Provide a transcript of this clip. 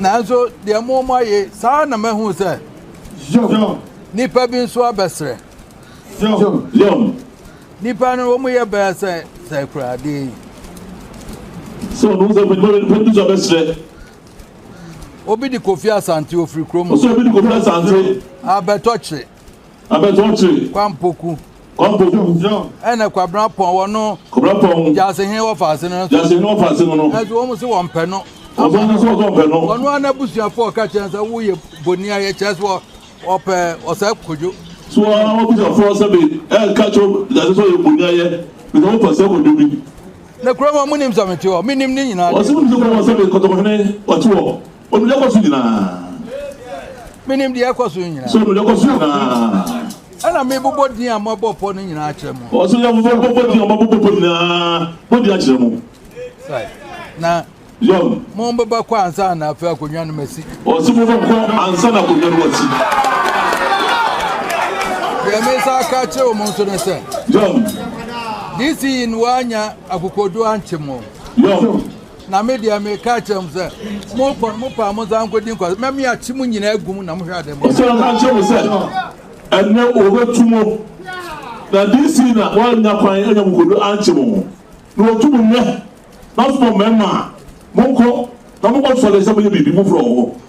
Nanso deɛ mo mo ayɛ saa ara na mahu sɛ nnipa bi nso abɛsrɛ. Nnipa no wɔn yɛ bɛyɛ sɛ sɛ kura adeɛ yi. Sɛ ɔno sɛ nnipa bi nnipa bi nso abɛsrɛ. Obi de Kofi Asante ofiri kurom. Ɔsɛ obi de Kofi Asante. Abɛtɔ kyere. Abɛtɔɔkyere. Kwampoku. Kwampoku. Ɛna Kwabena Pɔn wɔ no. Kwabena Pɔn. Gyasehene wɔ faase no. Gyasehene wɔ faase no no. Ɛso wɔn sɛ wɔn pɛ no. Wɔn sɛ wɔn sɛ wɔn pɛ no. Wɔn a n'abusuafo ɔka kyerɛ sɛ woyɛ boni ayɛ kyerɛ sɛ wɔpɛ ɔsɛ kodwo. So wɔn a wɔabusuafo sɛ bi ɛka kyerɛ gyasehene sɛ ɔyɛ boni ayɛ bi sɛ wɔpɛ sɛ kodwo bi. Na kurom a wɔn nim sɛ mete hɔ, menim ne nyinaa. Wɔsɛ wɔn sɛ wɔn sɛ bi kɔtɔkɔhene ɔte hɔ. Onim deɛ ɛkɔ so nyinaa. Menim deɛ ɛkɔ so nyinaa. So onim deɛ ɛkɔ so nyinaa. Ɛna mebobɔ din a moabɔ pɔ no nyinaa akyerɛ mo. Ɔsɛ yɛ mobɔ bobɔ din a moabobɔ pɔ nyinaa modi akyerɛ mo. Sai. Na Yɔn. mombɛba kɔ ansa na afei akonnwa no masi. Ɔsɛ mobɔ kɔ ansa na akonnwa no masi. Deɛ mesa aka akyerɛ wɔn nso ne sɛ. Yɔn. DC yi no wanya akokoɔduro ankye mo. Yɔn. Na me deɛ meka akyerɛ mo sɛ, monkɔ no, mo paa monsan nkɔdi nkwa, na meate mo nyinaa agu mu na mohwɛ adeɛ mo. Ɔsan ka kyerɛ me sɛ, ɛnnɛ wɔbɛtu mo, na DC na wɔannya kwan anya mo kodu ankye mo, na wɔtu mo nnɛ, mɛsoma mo mmarima, monkɔ na monkɔsɔre sɛ moyɛ biribi foforɔ wɔ hɔ.